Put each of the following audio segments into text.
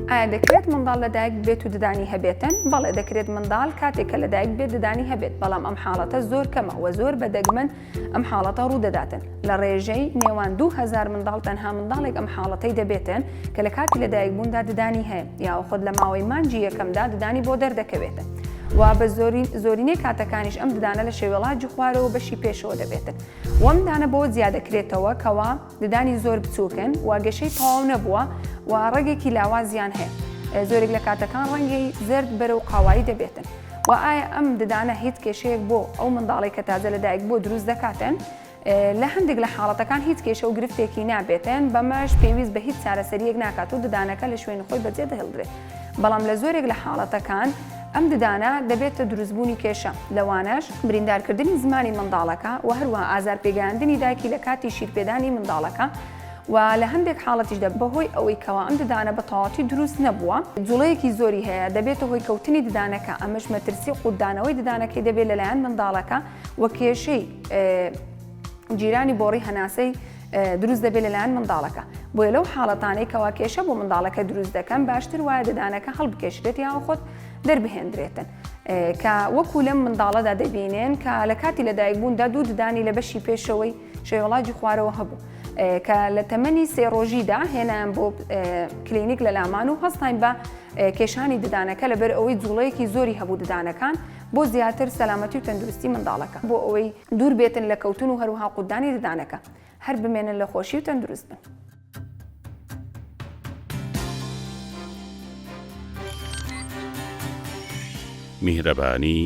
ئایا دەکرێت منداڵ لەدایک ببێت و ددانی هەبێتن؟ بەڵێ دەکرێت منداڵ کاتێک کە لەدایک بێت ددانی هەبێت، بەڵام ئەم حاڵەتە زۆر کەمە وە زۆر بە دەگمەن ئەم حاڵەتە ڕوودەداتن، لە ڕێژەی نێوان دوو هەزار منداڵ تەنها منداڵێک ئەم حاڵەتەی دەبێتن کە لە کاتی لەدایک بووندا ددانی هەیە یاوە خۆت لە ماوەی مانگی یەکەمدا ددانی بۆ دەردەکەوێتن وە بە زۆرینەی کاتەکانیش ئەم ددانە لە شێوەڵاجی خوارەوە بەشی پێشەوە دەبێتن وەم دانە بەوە جیادەکرێتەوە کەوا ددانی زۆر بچووکن و گەشەی تەواو نەبووە و ڕەگێکی لاوازیان هەیە، زۆرێک لە کاتەکان ڕەنگی زەرد بەرەو قاوایی دەبێتن، و ئایا ئەم ددانە هیچ کێشەیەک بۆ ئەو منداڵەی کە تازە لەدایکبووە دروست دەکاتن؟ لە هەندێک لە حاڵەتەکان هیچ کێشە و گرفتێکی نابێتن، بەمەش پێویست بە هیچ چارەسەرییەک ناکات و ددانەکە لە شوێنی خۆی بەجێدەهێڵدرێت. بەڵام لە زۆرێک لە حاڵەتەکان ئەم ددانە دەبێتە دروستبوونی کێشە، لەوانەش بریندارکردنی زمانی منداڵەکە و هەروەها ئازارپێگەیاندنی دایکی لە کاتی شیرپێدانی منداڵەکە و لە هەندێک حاڵەتیشدا بەهۆی ئەوەی کەوا ئەم ددانە بە تەواوەتی دروست نەبووە، جوڵەیەکی زۆری هەیە، دەبێتە هۆی کەوتنی ددانەکە، ئەمەش مەترسی قوتدانەوەی ددانەکەی دەبێت لەلایەن منداڵەکە و کێشەی. جیرانی بۆڕی هەناسەی دروست دەبێت لەلایەن منداڵەکە بۆیە لەو حاڵەتانەی کەوا کێشە بۆ منداڵەکە دروست دەکەن باشتر وایە ددانەکە هەڵبکێشرێت یاوە خۆت دەربهێندرێتن کە وەکو لەم منداڵەدا دەبینێن کە لە کاتی لەدایک بووندا دوو ددانی لە بەشی پێشەوەی شێوەڵاجی خوارەوە هەبوو کە لە تەمەنی سێ ڕۆژیدا هێنان بۆ کلینیک لە لامان و هەستین بە کێشانی ددانەکە لەبەر ئەوەی جوڵەیەکی زۆری هەبوو ددانەکان بۆ زیاتر سەلامەتی و تەندروستی منداڵەکە بۆ ئەوەی دوور بێتن لە کەوتن و هەروەها قوتدانی ددانەکە هەر بمێنن لە خۆشی و تەندروست بن. میهرەبانی،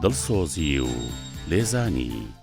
دڵسۆزی و لێزانی.